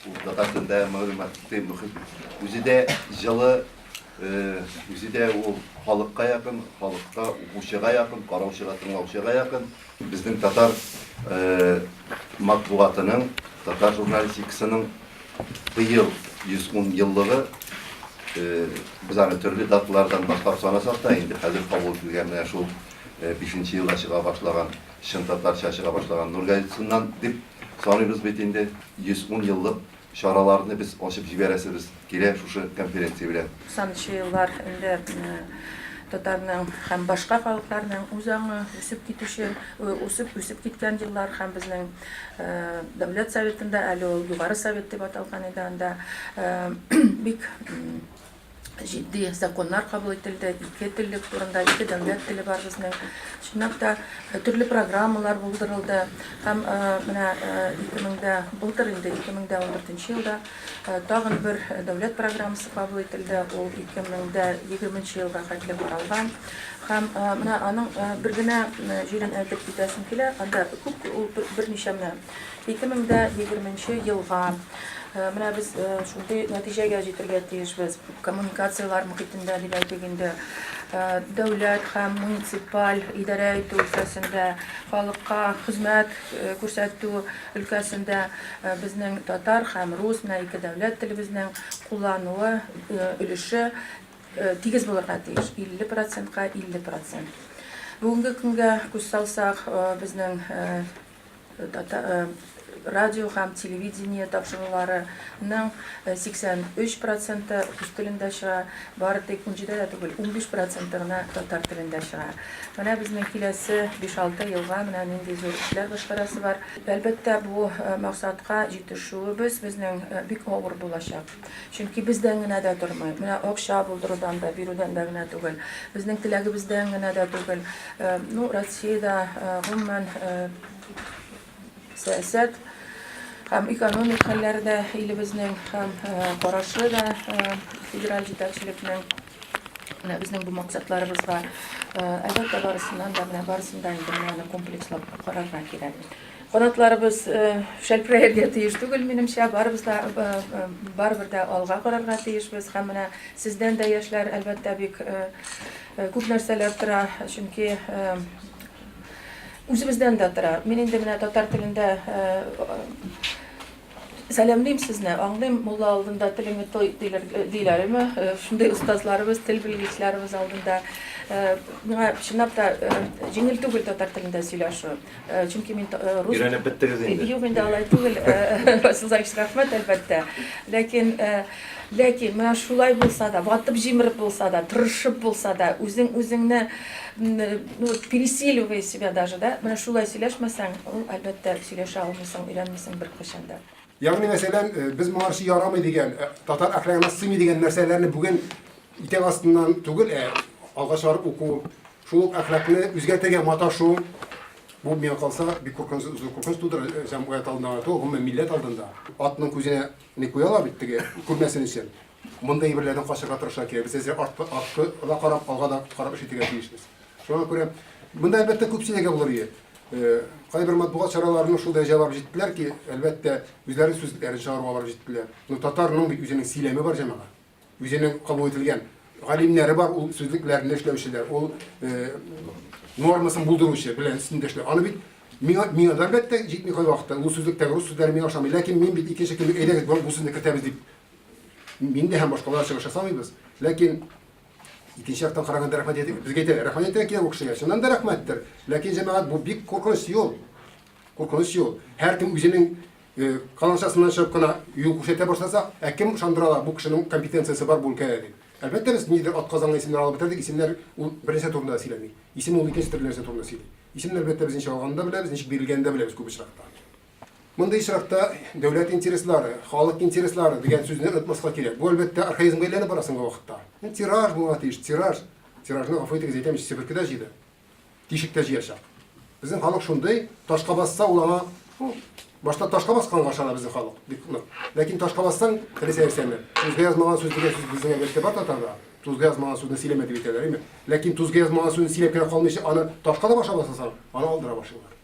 Ул татар телендә мәгълүмати мөхит. Үзе дә җылы, үзе дә ул халыкка якын, халыкка, укучыга якын, караучыга, тыңлаучыга якын. Безнең татар матбугатының, татар журналистикасының быел 110 еллыгы без аны төрле даталардан башлап санасак та, инде хәзер кабул ителгән менә шул 5 елда чыга башлаган, чын татарча чыга башлаган Нур газетасыннан дип Саныйбыз бит инде, 110 еллык чараларны без ачып җибәрәсебез килә шушы конференция белән. Санчы еллар инде татарның һәм башка халыкларның үз аңы үсеп китүче, үсеп, үсеп киткән еллар һәм безнең Дәүләт Советында, әле ул Югары Совет дип аталган иде, анда бик җитди законнар кабул ителде, ике теллек турында, ике дәүләт теле бар безнең. Чынлап та э, төрле программалар булдырылды. Һәм э, менә 2000-дә, э, былтыр инде 2014 елда тагын бер дәүләт программасы кабул ителде. Ул 2020 елга хәтле каралган. Һәм менә аның бер генә җирен әйтеп китәсем килә. Анда күп ул берничә менә 2020 нче елга менә без шундый нәтиҗәгә җитергә тиешбез. Коммуникацияләр мохитендә дип әйтик инде, дәүләт һәм муниципаль идарә итү өлкәсендә, халыкка хезмәт күрсәтү өлкәсендә безнең татар һәм рус, менә ике дәүләт телебезнең куллануы өлеше тигез булырга тиеш, 50 процентка 50 процент. Бүгенге көнгә күз салсак, безнең радио һәм телевидение тапшыруларының 83 проценты үз телендә чыга, бары тик унҗиде дә түгел, унбиш проценты гына татар телендә чыга. Менә безнең киләсе биш-алты елга менә нинди зур эшләр башкарасы бар. Әлбәттә, бу максатка җитешүебез безнең бик авыр булачак. Чөнки бездән генә дә тормый. Менә акча булдырудан да, бирүдән дә генә түгел. Безнең теләгебездән генә дә түгел. Э, ну, Россиядә, э, гомумән, э, сәясәт һәм экономик хәлләр дә илебезнең һәм карашы да федераль җитәкчелекнең менә безнең бу максатларыбызга әлбәттә барысыннан да менә барысын да инде менә комплекслап карарга кирәк. Канатларыбыз шәлперәергә тиеш түгел, минемчә, барыбыз да барыбер дә алга карарга тиешбез. Һәм менә сездән дә, яшьләр, әлбәттә, бик күп нәрсәләр тора, чөнки үзебездән дә тора. Мин инде менә татар телендә Сәламлим сезне, аңлыйм, мулла алдында телеңне той диләреме, шундый остазларыбыз, тел белгечләребез алдында. Миңа чынлап та җиңел түгел татар телендә сөйләшү. Чөнки мин рус Өйрәнеп беттегез инде. Юк, инде алай түгел. Расул Зарифович, рәхмәт, әлбәттә. Ләкин, ләкин менә шулай булса да, ватып-җимереп булса да, тырышып булса да, үзең үзеңне Ну вот пересиливая себя даже, да? Менә шулай сөйләшмәсәң, ул әлбәттә сөйләшә алмыйсың, өйрәнмисең беркайчан да. Ягъни мәсәлән, э, без моңарчы ярамый дигән, э, татар әхлагына сыймый дигән нәрсәләрне бүген итәк астыннан түгел, ә алга чыгарып уку, шул ук әхлакны үзгәртергә маташу, бу миңа калса бик куркыныч зур куркыныч тудырыр э, җәмгыять алдында, гомумән милләт алдында. Атның күзенә не куялар бит теге күрмәсен өчен. Мондый әйберләрдән качырга тырышырга кирәк. Без әзер арткы, арткы да карап, алга да карап эш итәргә тиешбез. Шуңа күрә монда әлбәттә күп сөйләргә булыр иде. Э, кайбер матбугат чараларының шул дәрәҗә барып җиттеләр ки, әлбәттә, үзләренең сүзләрен чыгаруга барып җиттеләр. Но татарның бит үзенең сөйләме бар җәмәгать. Үзенең кабул ителгән галимнәре бар, ул сүзлекләрне эшләүчеләр, ул э, нормасын булдыручы белән өстендә эшләр. Аны бит миңа, миңа да әлбәттә җитми кайвакытта. Ул сүзлектәге рус сүзләре миңа ошамый. Ләкин мин бит икенче көнне әйдәгез, бу сүзне кертәбез дип Мин дә һәм башкалар чыгыш ясамыйбыз. Ләкин икенче яктан караганда рәхмәт әйтик, безгә әйтә, рәхмәт әйтә кирәк бу кешегә. Чыннан да рәхмәттер. Ләкин җәмәгать бу бик куркыныч юл. Куркыныч юл. Һәркем үзенең э, каланчасыннан чыгып кына юл күрсәтә башласа, ә кем ышандыра ала бу кешенең компетенциясе бар бу өлкәдә дип. Әлбәттә без нидер атказанган исемнәр алып бетердек, исемнәр ул бернәрсә турында сөйләми. Исем ул икенче төрле нәрсә турында сөйли. Исемне әлбәттә без ничек алганда беләбез, ничек бирелгәндә беләбез күп очракта. Мондый очракта дәүләт интереслары, халык интереслары дигән сүзне онытмаска кирәк. Бу, әлбәттә, архаизмга әйләнеп бара соңгы вакытта. Ну, тираж булырга тиеш, тираж. Тиражны, гафу итегез, әйтәм, себерке дә җыйды. Тишек тә җыячак. Безнең халык шундый, ташка басса, ул аңа ну, башта ташка басканга ышана безнең халык. Бик нык. Ләкин ташка бассаң, теләсә нәрсәне. Тузга язмаган сүз дигән сүз безнең әлбәттә бар татарда. Тузга язмаган сүзне сөйләмә дип әйтәләр, әйме? Ләкин тузга язмаган сүзне сөйләп кенә калмыйча, аны ташка да баша басасаң, аны алдыра башлыйлар.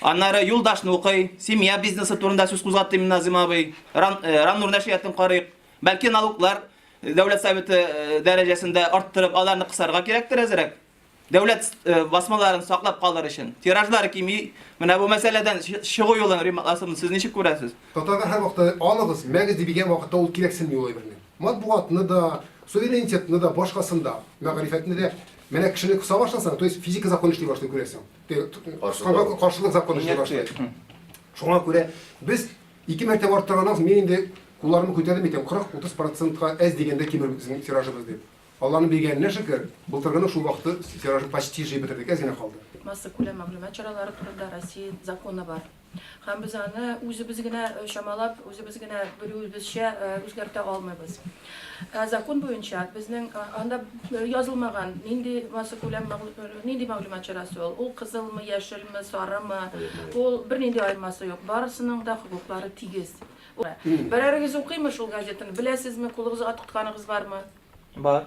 Аннары юлдашны укый, семья бизнесы турында сүз кузгатты мин Назим абый. Ран, э, Раннур нәшриятын карыйк. Бәлки налоглар э, дәүләт советы э, дәрәҗәсендә арттырып, аларны кысарга кирәктер әзрәк. Дәүләт э, басмаларын саклап калыр өчен. Тиражлар кими. Менә бу мәсьәләдән чы- чыгу юлын Рим Асыловна, сез ничек күрәсез? Татарга һәр вакытта алыгыз, мәгез дибегән вакытта ул кирәксенми ул әйберне. Матбугатны да, суверенитетны да, башкасын да, мәгарифәтне дә. Менә кешене кыса башласаң, то есть физика законы эшли башлый күрәсең. Каршылык. Каршылык законы эшли башлый. Шуңа күрә без ике мәртәбә арттырганнан мин инде кулларымны күтәрдем икән, 40-30 процентка әз дигәндә кимер безнең тиражыбыз дип. Алланың биргәненә шөкер, былтыргының шул вакыты тиражы почти җыеп бетердек, әз генә калды. Массакүләм мәгълүмат чаралары турында Россия законы бар. Һәм без аны үзебез генә чамалап, үзебез генә берүзебезчә үзгәртә алмыйбыз. Ә закон буенча безнең анда язылмаган, нинди массакүләм нинди мәгълүмат чарасы ул, ул кызылмы, яшелме, сарымы, ул бернинди аермасы юк, барысының да хокуклары тигез. Берәрегез укыймы шул газетаны, беләсезме, кулыгыз атканыгыз бармы? Бар.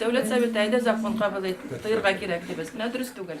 Дәүләт Советы әйдә закон кабул ит, тыерга кирәк, дибез. Менә дөрес түгел.